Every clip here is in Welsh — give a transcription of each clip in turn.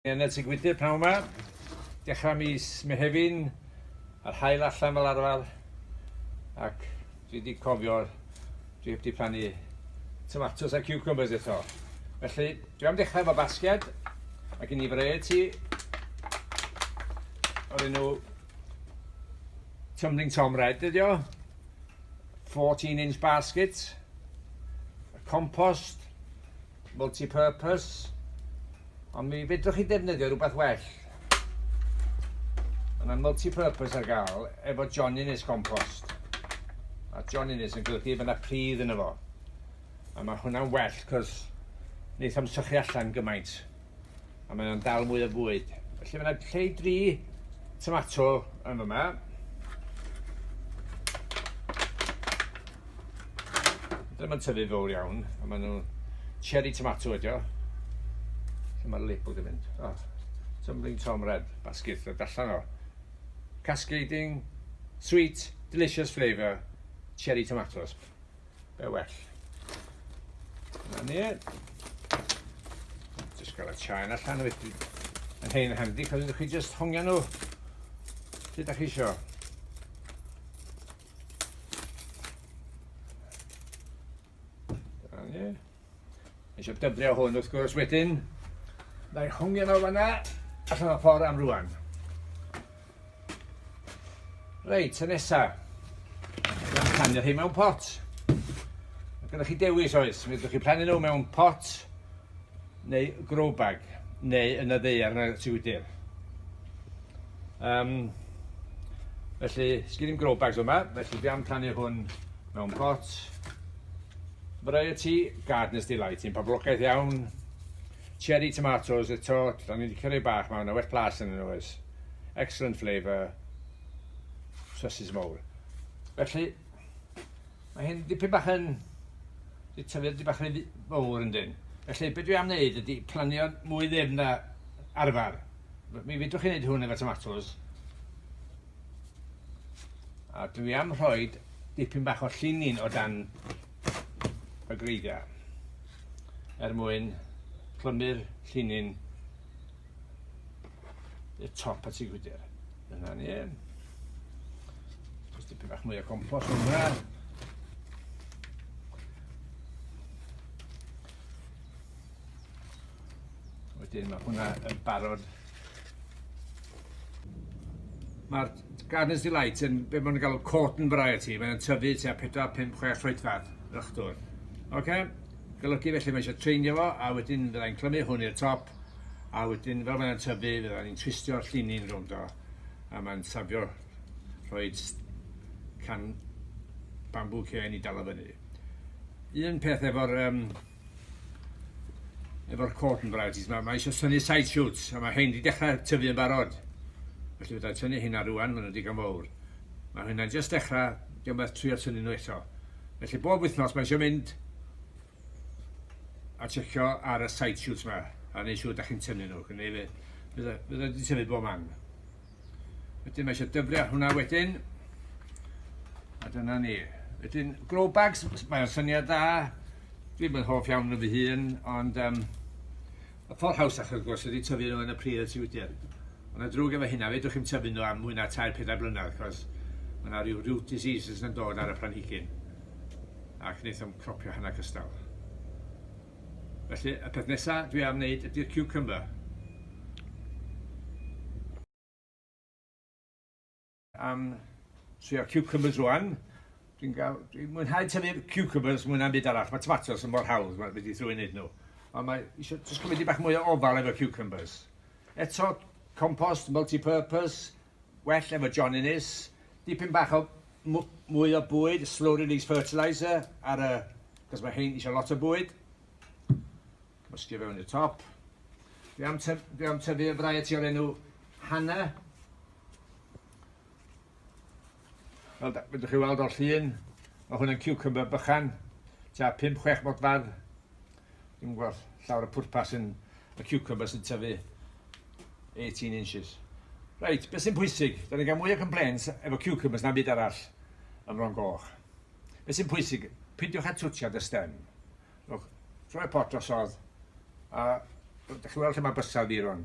Yn y tŷ gwydyr pnawn 'ma, dechrau mis Mehefin, a'r haul allan fel arfer, ac dwi wedi cofio, dwi wedi plannu tomatos a cucumbers eto. Felly, dwi am dechrau efo basged, ac yn i variety o'r enw Tumbling Tom Red ydi o, 14 inch basket, compost, multi-purpose, ond mi fedrwch chi ddefnyddio rhywbeth well. Mae yna multi-purpose ar gael efo John Innes compost. A John Innes yn golygu bod yna pridd yn efo. A mae hwnna'n well, cos wneith o'm sychu allan gymaint. a mae o'n dal mwy o fwyd. Felly mae yna lle i dri tomato yn yma. Ddim yn tyfu fawr iawn, a maen nhw cherry tomato ydi o. Lle mae'r label di mynd? Oh, tumbling Tom Red, basgeth o dallan o. Cascading, sweet, delicious flavour, cherry tomatoes. Be well. Na ni. Just gael y chain allan wedyn. Yn hyn yn handi, cos ydych chi just hongio nhw. Lle da chi isio? Na ni. Eisiau dybrio hwn wrth gwrs wedyn. Na'i hongio nhw fanna. Allan o ffordd am rwan. Reit, y nesa. Mae'n plannu rhai mewn pot. Mae gennych chi dewis oes. Mae chi plannu nhw mewn pot neu grow bag neu yn y ddeiar yn y siwydir. Um, felly, sgyn i'n grow bags yma, felly dwi am plannu hwn mewn pot. Variety, Gardener's Delight, un poblogaeth iawn. Cherry tomatoes eto, o'n i licio rei bach ma, na well plas yn nhw oes. Excellent flavour. Sosys mowr. Felly, mae hyn dipyn bach yn... Di tyfu dipyn bach yn fawr yn dyn. Felly, beth dwi am wneud ydy planio mwy ddim na arfer. Mi fydwch chi'n gwneud hwn efo tomatoes. A dwi am rhoi dipyn bach o llinin o dan y greigiau er mwyn clymu'r llinyn y top at ei gwydr. Dyna ni. Jyst tipyn bach mwy o compost yn hwnna. Wedyn mae hwnna yn barod Mae'r Gardener's Delight yn be maen nhw'n galw cotton variety. Mae'n tyfu tua 4, 5, 6 troedfedd yr ychdwr. Oce? Golygu felly mae eisiau treinio fo, a wedyn fyddai'n clymu hwn i'r top, a wedyn fel mae'n tyfu, fydda ni'n twistio'r llini'n rownd o, a mae'n safio rhoi can bambw cen i dal o fyny. Un peth efo'r um, efo'r court and varieties ma, mae eisiau tynnu side shoots, a mae hyn wedi dechrau tyfu yn barod. Felly fydda i tynnu hynna rwan, maen nhw digon fawr. Mae hynna'n just dechrau, diolch beth trio tynnu nhw eto. Felly bob wythnos mae eisiau mynd a checio ar y side shoots ma, a neu siŵr da chi'n tynnu nhw, neu fydda wedi tyfu bob man. Wedyn mae eisiau dyfru ar hwnna wedyn. A dyna ni. Wedyn, glow bags, mae'n syniad dda. Dwi'n mynd hoff iawn yn fy hun, ond um, y ffordd hawsach wrth gwrs ydy tyfu nhw yn y pridd y tiwdir. Ond y drwg efo hynna, fedrwch chi'n tyfu nhw am mwy na 3-4 blynedd, cos mae yna rhyw root diseases yn dod ar y planhigyn ac wnaethom cropio hana cystal. Felly, y peth nesa dwi am wneud ydy'r cucumber. Am trio cucumbers rwan. Dwi'n gael, dwi'n mwynhau tyfu'r cucumbers mwyn am byd arall. Mae tomatos yn mor hawdd, mae wedi thrwy wneud nhw. Ond mae eisiau jyst cymryd i bach mwy o ofal efo cucumbers. Eto, compost, multi-purpose, Well efo John Innes. Dipyn bach o mwy o bwyd, slow release fertiliser ar y... cos mae hein eisiau lot o bwyd. Cymysgu fewn i'r top. Dwi am, tyf, dwi am tyfu y variety o'r enw Hannah. Fel da, fedrwch chi weld o'r llun, mae hwn yn cucumber bychan, tua 5-6 modfedd. Dwi'n gweld llawer y pwrpas yn y cucumber sy'n tyfu 18 inches. Reit, beth sy'n pwysig? Da ni'n cael mwy o complaints efo cucumbers na byd arall ym Mron Goch. Beth sy'n pwysig? Pidiwch â twtio dy stem. Rhowch troi pot drosodd a dych chi'n weld lle mae bysedd i rwan.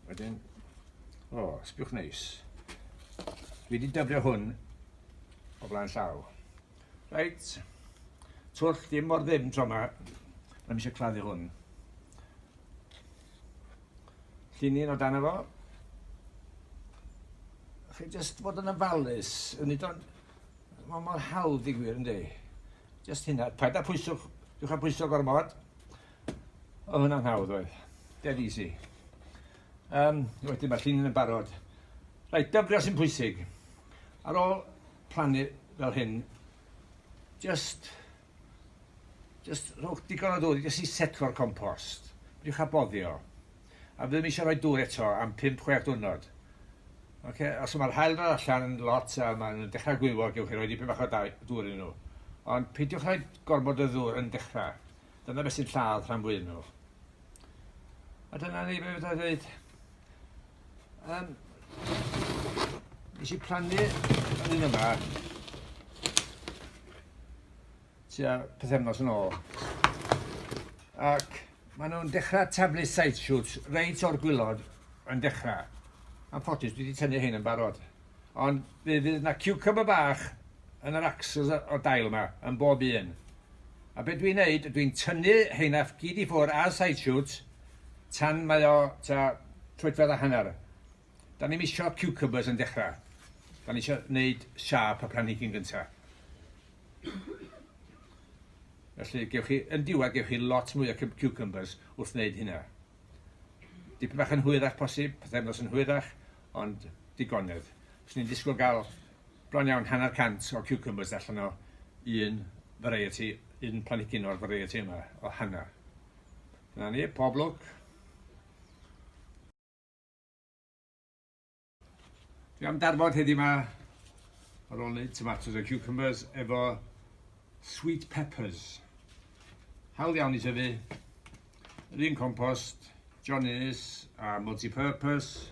Wedyn, o, oh, sbiwch neis. Fi wedi dyfrio hwn o flaen llaw. Reit, twll dim mor ddim tro yma. Mae'n eisiau claddu hwn. Llini'n o dan efo. Chi jyst bod yn ofalus, yn nid ond Mae mor hawdd i gwir, ynddi? Just hynna. Paid â pwyso, diwch â pwyso gormod. O, hwnna'n hawdd oedd. Dead easy. Um, wedyn mae llun yn barod. Rhaid dyfrio sy'n pwysig. Ar ôl plannu fel hyn, just, just rhowch digon o ddŵr, just i setlo'r compost. Diwch â boddio. A fi ddim eisiau rhoi dŵr eto am pump, chwech diwrnod. Oce? Os mae'r haul yna allan yn lot a maen nhw'n dechrau gwywo, gewch chi roi dipyn bach o dŵr iddyn nhw. Ond peidiwch rhoi gormod o ddŵr yn dechrau. Dyna beth sy'n lladd rhan fwyaf nhw. A dyna ni beth fydda dweud. Um, nes i plannu yn un yma tua pythefnos yn ôl. Ac maen nhw'n dechrau taflu side shoots reit o'r gwylod yn dechrau. Am ffotis, dwi wedi tynnu hyn yn barod. Ond fe fydd yna cucumber bach yn yr axles o'r dail yma, yn bob un. A beth dwi'n neud, dwi'n tynnu heina gyd i ffwrdd ar side shoots tan mae o ta troedfedd a hanner. Dan ni'm isio ciwcybers yn dechra. Dan ni isio neud siâp y planhigyn gynta. Felly gewch chi, yn diwedd gewch chi lot mwy o ciwcybers wrth wneud hynna. Dipyn bach yn hwyrach posib, pethefnos yn hwyrach, ond digonedd. Os ni'n disgwyl gael bron iawn hanner cant o ciwcybers allan o un variety, un planhigyn o'r variety yma, o hanner. Dyna ni, pob lwc. Dwi am darfod heddiw ma, ar ôl wneud tomatoes a cucumbers, efo sweet peppers. Hawl iawn i tyfu, yr un compost, John Innes a multi-purpose,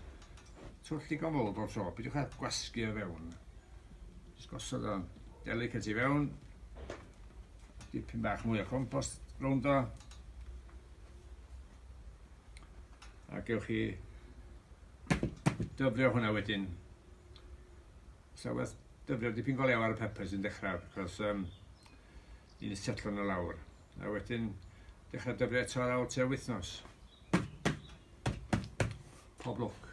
twll digon fawr bob tro, bydwch ar gwasgu o fewn. Just gosod o'n delicate i fewn, dipyn bach mwy o compost rownd o, a gewch chi dyfrio hwnna wedyn sa werth dyfrio dipyn go lew ar y peppers yn dechrau achos um, i'n setlo nhw lawr a wedyn dechrau dyfrio eto ar ôl tua wythnos pob lwc